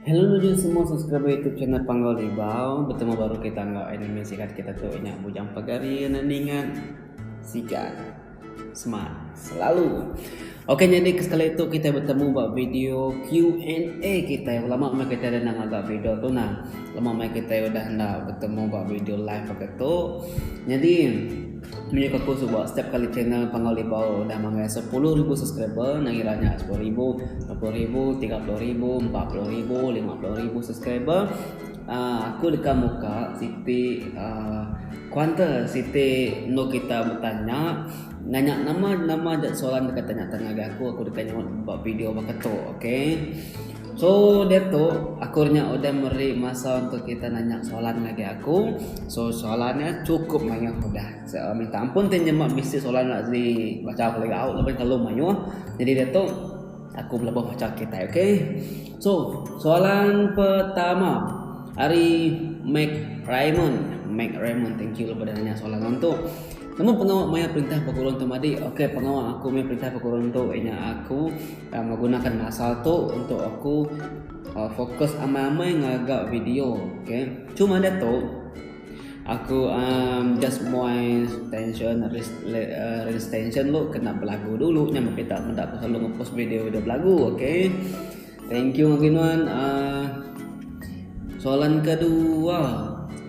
Hello nuju semua subscriber youtube channel Panggau Ribau Betemu baru kita enggau anime sikat kita tu Inya Bujang Pagari Anak Ningat Sikat Smart Selalu Okey jadi ke sekali tu kita bertemu buat video Q&A kita Lama mai kita dah nak agak video tu nah Lama mai kita dah nak bertemu buat video live agak tu Jadi Mih kaku suba setiap kali channel Panggau Libau udah manggai sepuluh ribu subscriber nangira nya sepuluh ribu, dua puluh ribu, tiga puluh ribu, empat puluh ribu, lima puluh ribu subscriber uh, aku deka muka siti uh, kuanter siti endo kita betanya nanya nama nama aja soalan deka tanya tanya ngagai aku aku deka nyaunt ba video baka tu okay. So diatu aku nya udah meri masa untuk kita nanya soalan ngagai aku so soalan nya cukup mayuh udah minta ampun ti nyema bisi soalan nya di bacha aku lagi au laban terlalu mayuh jadi diatu aku belebah bacha kitai ok so soalan pertama ari mac raymond mac raymond thank you baka nanya soalan nang tu nemu pengawa mayar perintah baka urang tu madik ok pengawa aku mayar perintah baka urang tu iya nya aku Begunakan masa tu untuk aku fokus amai-amai ngaga video. Okay. Cuma dia tu, aku um, just moin tension, release tension lu kena belagu dulu. Nyam kita menda aku selalu ngepost video dia belagu. Okay. Thank you Mabinuan. Uh, ah, soalan kedua.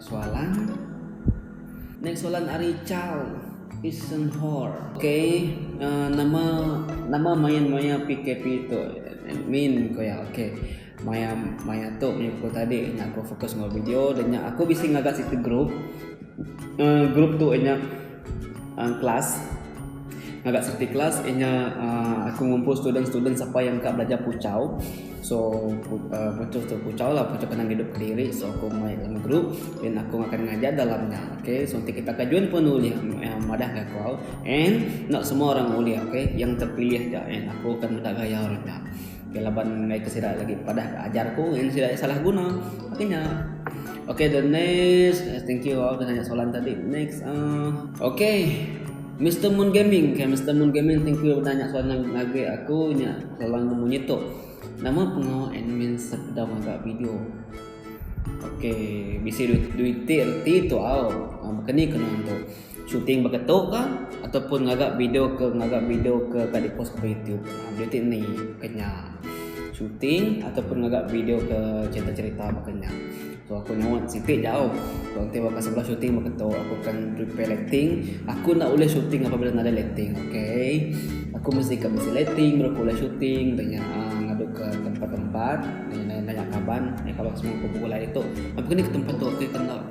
Soalan. Next soalan ari Carl Isenhor. Ok, nama nama main maya PKP tu? Admin ko iya. Ok. Maya maya tu maya pukul tadi nya aku fokus enggau video dan nya aku bisi ngaga siti group. Group tu nya kelas ngaga seperti kelas inya aku ngumpul student-student sapa iya mega belajar puchau so puchau tu puchau lah puchau kenang idup kediri so aku mai dalam group then aku akan ngajar dalam nya okay so enti kita kajun pun ulih madah ka aku and not semua orang ulih okay yang terpilih ja and aku akan meda gaya orang nya. Ke laban mega ke sida lagi padah ke ajar ku ngin sida salah guna. Okey nya. Okey the next eh, thank you all kena soalan tadi. Next ah. Uh, Okey. Mr Moon Gaming, okay, Mr Moon Gaming, thank you udah nanya soalan ngagi aku nya soalan nemu nyitu. Nama pengawa admin sepeda maga video? Okey, bisi duit duit ti tu au. Ah, kena kena tu. Shooting baka tu ka ataupun ngaga video ke ngaga video ke ka di post ke youtube ha video ti ni baka nya shooting ataupun ngaga video ke cerita cerita baka nya so aku nyauan siti jauh kalau enti baka sebedau shooting baka tu aku akan prepare lighting aku enda ulih shooting apabila nadai lighting okay aku mesti ka bisi lighting baru aku ulih shooting dah nya ha ngadu ke tempat tempat nanya nanya kaban nanya kaban semua kumpul kumpul ari tu aku ni ke tempat tu aku akan enda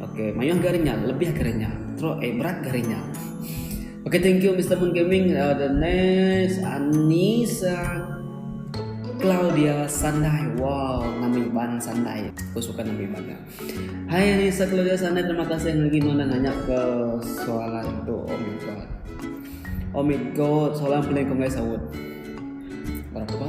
Okay, mayuh gari nya, lebih gari nya. Terus eh berat gari nya. Okay, thank you Mr. Moon Gaming. Uh, the next Anisa Claudia Sandai. Wow, nama iban Sandai. Aku suka nama iban dia. Hai Anisa Claudia Sandai, terima kasih yang lagi nonton nanya ke soalan tu. Oh my god. Oh my god, soalan paling kau ngai sahut. Berapa?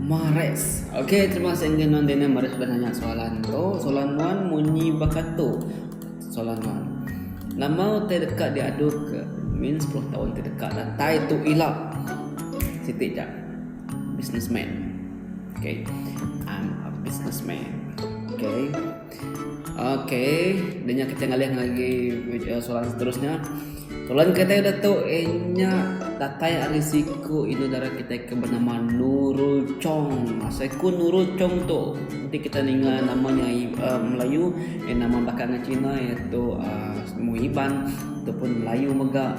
Mares. Ok terima kasih enggai nuan Daniel mares sudah nanya soalan tu. Soalan nuan munyi bakatu. Soalan nuan. Nama utai deka diadu ke min 10 taun ke deka datai tu ila siti ja businessman. Ok. I'm a businessman. Ok. Oke, denya kita ngalih ngagi eh, soalan seterusnya. Soalan kita udah tu inya datai ari siku inu dara kita ke bernama Nurul Chong. Siku Nurul Chong tu nanti kita ninga nama nya uh, Melayu, eh, nama bakal dengan Cina iaitu uh, Iban ataupun Melayu mega.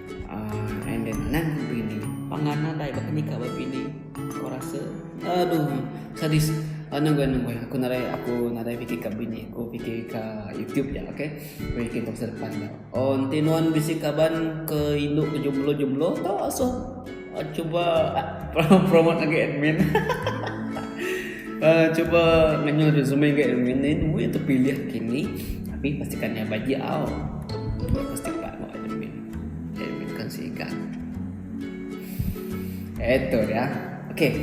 And then nan bini. Pangan nadai baka nikah ba bini. Aku rasa aduh sadis. Uh, nunggu nunggu aku nadai aku nadai fikir ka bini aku fikir ka YouTube ya okey. Aku fikir masa depan ya. Oh enti nuan bisi kaban ke indu ke jumlo-jumlo tau asuh. Cuba promote agi admin. uh, cuba ngenyul resume agi admin ni dua yang terpilih kini. Tapi pastikan yang bagi au. Pasti pak mau admin. Admin kan siga. Itu dia. Okey.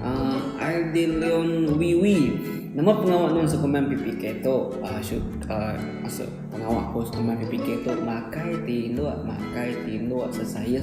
Uh, Ardilion Wiwi. Nama pengawa non sukuman PPK tu? Uh, shoot, uh, masuk pengawa pos sukuman PPK tu. Makai tilu, makai tilu, sesayus.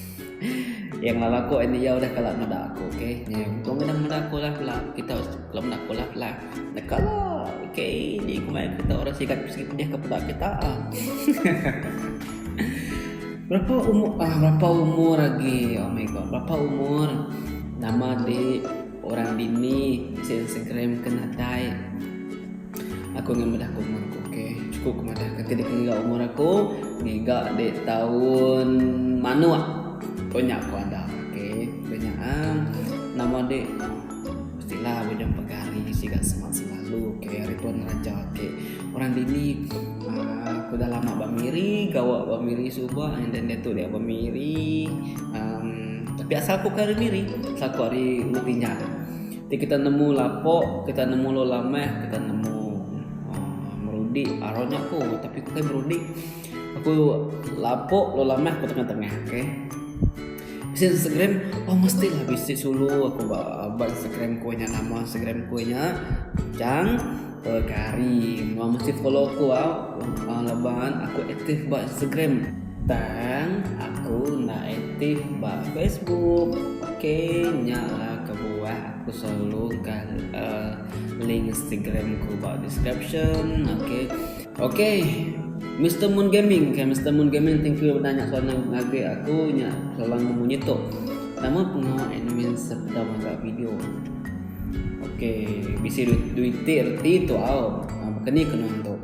Yang lama aku ini ya udah kalah meda aku okey. Ni untung kena meda aku lah pula. Kita kalau meda aku lah pula. Nak kalah. Okey, ni kumai kita orang sikat sikit pedih ke pula kita. Ah. berapa umur ah berapa umur lagi? Oh my god, berapa umur? Nama di orang bini di Instagram kena dai. Aku enggau madah ke umur aku ke chukup ke madah ke ti deka ngiga umur aku ngiga di taun manuk ko nya ku anda ke ku nya um nama di mesti la udah pegah hari siga semak selalu ke ari pun ngeraja ake orang dini um ku dah lama ba miri gawa ba miri suba and then diatu dia ba miri um tapi asal ku ke ari miri asal ku ari Ulu Tinjau. Ti kita nemu lapo, kita nemu lo lameh, kita nemu uh, merudi aro nya ko, tapi ko kai merudi. Aku lapo lo lameh ko tengah-tengah, okey. Bisi Instagram, oh mesti lah bisi sulu aku ba, ba Instagram ko nya nama Instagram ko nya. Jang, Pekari nuan mesti follow aku au. Lempang leban aku aktif ba Instagram. Tang aku enda aktif ba Facebook. Ok nya lah kebuah aku selalu engkah uh, link Instagram ku ba description. Ok. Ok. Mr Moon Gaming. Okay, Mr Moon Gaming thank you udah nanya soalan ngagai aku nya soalan munyi tu. Nama pengawa admin sepeda maga video? Ok bisi duit ti reti tu au baka ni ke nuan tu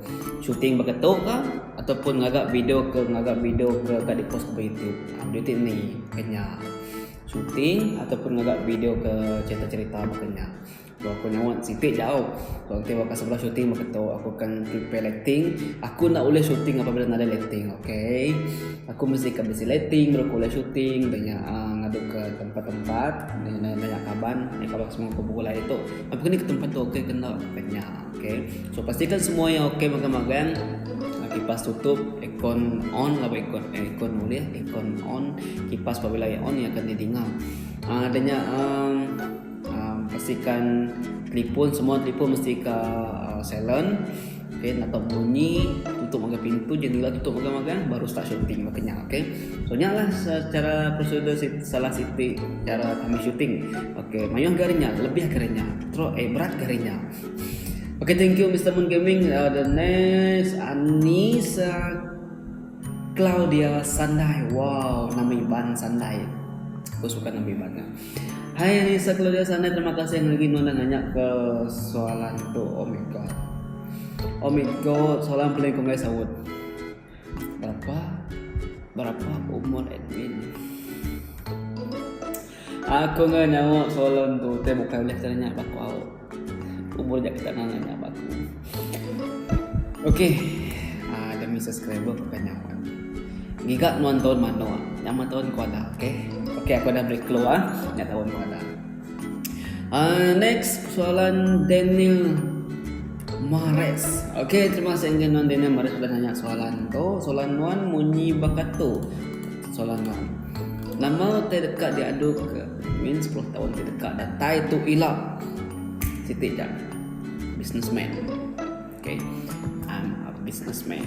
shooting beketu ka atau pun ngaga video ke ngaga video ke ka di post ba youtube duit ti ni ke nya shooting atau pun ngaga video ke cherita cherita baka nya tau aku nyuan siti jau tau enti baka sebedau shooting beketu aku akan prepare lighting aku enda ulih shooting apabila enda ada lighting ok. Aku mesti ka bisi lighting baru aku ulih shooting dah nya aaa ngadu ke tempat tempat nanya nanya kaban nanya kaban ke semua ke buah laie tu apai ke tempat tu okay ke enda ka nya okay so pasti kan semua yang okay magang magang kipas tutup aircon on lalu aircon aircon ulih aircon on kipas pabila iya on iya akan di dinga aaa dah nya aaa aaa pastikan telefon semua telefon mesti ka aaa silent Okay, nak tahu bunyi tutup magang pintu jendela tutup magang magang baru start shooting makanya okay so nya lah secara prosedur salah siti cara kami shooting okay mayuh garinya lebih garinya terus eh berat garinya okay thank you Mr. Moon Gaming uh, the next Anissa Claudia Sandai wow nama Iban Sandai aku suka nama Iban Hai Risa keluarga sana terima kasih ngagi nona nanya ke soalan tu oh my god oh my god soalan paling ku mai saut berapa berapa umur admin aku ngai nyawa soalan tu te bukan leh tanya baku au Kubur jak kita nang nanya baku. Okey. Ah, demi subscriber bukan nyawa. Giga nuan tahun mano? Nyama tahun kuada, okey. Okey, aku dah beri clue ah. Nya tahun kuada. Ah, next soalan Daniel Mares. Okey, terima kasih enggak nuan Daniel Mares sudah nanya soalan tu. Soalan nuan munyi bakatu. Soalan nuan. Nama teh deka diadu ke Min sepuluh taun ti deka datai tu ila siti ja businessman. Okay. I'm a businessman.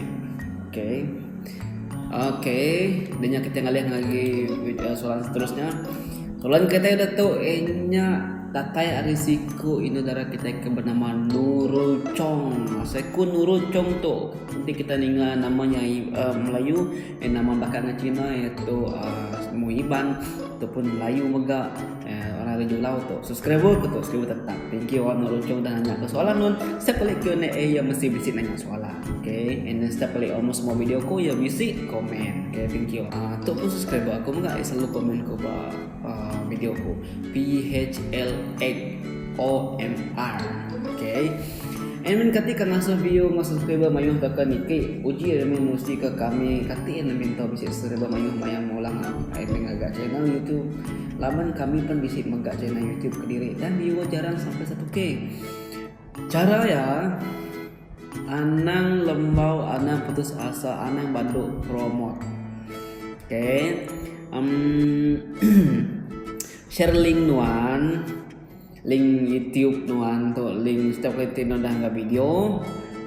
Okay. Okay. Denya kita ngalih lagi eh, soalan seterusnya. Soalan kita ada tu inya datai ari siku inu dara kita ke bernama Nurul Chong. Siku Nurul Chong tu nanti kita ninga namanya uh, Melayu Enda mambaka enggau Cina iaitu semua um, Iban ataupun Melayu mega uh, orang Raja Ulau tu. Subscriber ke tu, subscriber tetap. Thank you orang Roncong dah nanya ke soalan nun. Setiap kali Q&A eh, ya mesti bisi nanya soalan. Okay. And then setiap kali almost semua video aku ya bisi komen. Okay, thank you. Uh, tu pun subscriber aku mega eh, selalu komen ke ba Video aku. PHLXOMR Okay Admin kati ka ngasuh view enggau subscriber mayuh tauka niki uji admin musti ka kami kati enda minta bisi subscriber mayuh maya mula admin ngaga channel YouTube laban kami pen bisi mega channel YouTube kediri dan viewer jarang sampai 1K. Chara iya Anang lembau anang putus asa anang bantu promote ok umm share link nuan link youtube nuan tu link setiap kali ti nuan dah anggap video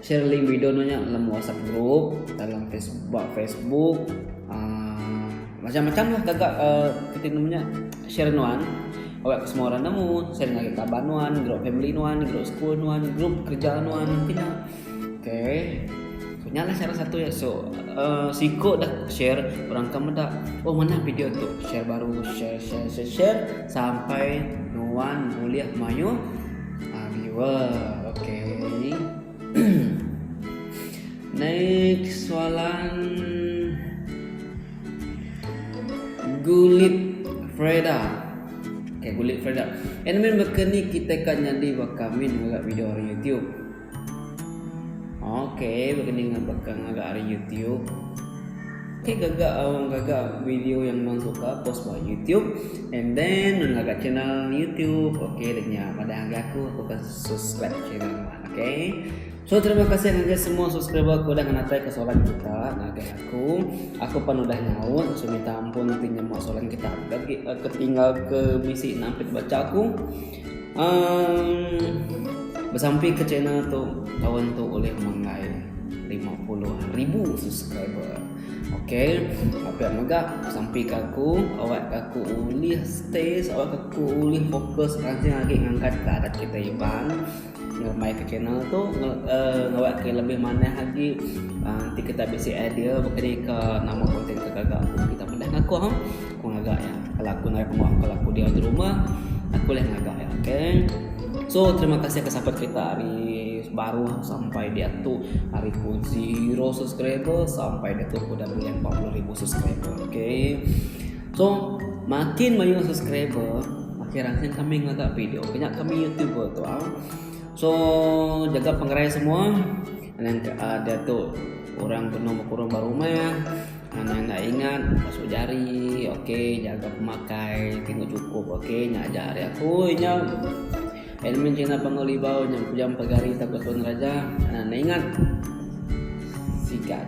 share link video nuan nya dalam whatsapp group dalam facebook facebook uh, macam-macam lah gaga uh, kiti nama nya Share nuan, awakka semua orang nemu, share ngagai kaban nuan, group family nuan, group school nuan, group kerja nuan pina. Okay. So nyalah cara satu ya. So uh, siko dah share orang ke meda. Oh mana video tu? Share baru, share share share, share sampai nuan boleh mayu uh, viewer. Okay. Naik soalan Gulit Freda. Okay, Gulit Freda. Admin baka ni kita kan nyadi baka min ngaga video hari YouTube. Okay, baka ni baka ngaga hari YouTube. Okay, gaga orang uh, gaga video yang non suka post ba YouTube and then non gaga channel YouTube. Okay, denya pada aku aku akan subscribe channel. Okay. So terima kasih ngagai semua subscriber aku udah ngenatai ke soalan kita ngagai aku. Aku pun udah nyaut so minta ampun nanti nyemua soalan kita lagi uh, ketinggal ke misi nak ambil baca aku. Um, bersampai ke channel tu tahun tu oleh menggai 50 ribu subscriber. Okay, apa yang megak sampai ke aku, awak aku ulih stay, awak aku ulih fokus nanti lagi ngangkat ke adat kita Iban. Ngerembaika channel tu ngawakka lebih manah agi enti kita bisi idea bekereika nama content ke gaga aku kita pendah ngakung aku ngaga ya. Kalau aku naik rumah kalau aku diau di rumah aku leh ngaga ya. Okay. So terima kasih ke support kita hari baru sampai di atu hari ku zero subscriber sampai di atu ku dah beli 40000 subscriber. Okay. Song makin mayuh subscriber makin ranchin kami ngaga video kena kami youtuber tu ah. So jaga pengerai semua anang ke uh, dia tu orang kena berkurang baru rumah anang nak ingat masuk jari okey jaga pemakai tengok cukup okey nak ajar hari aku nya elemen Cina Panggul Libau yang pujam pegari tak betul raja anang nak ingat sikat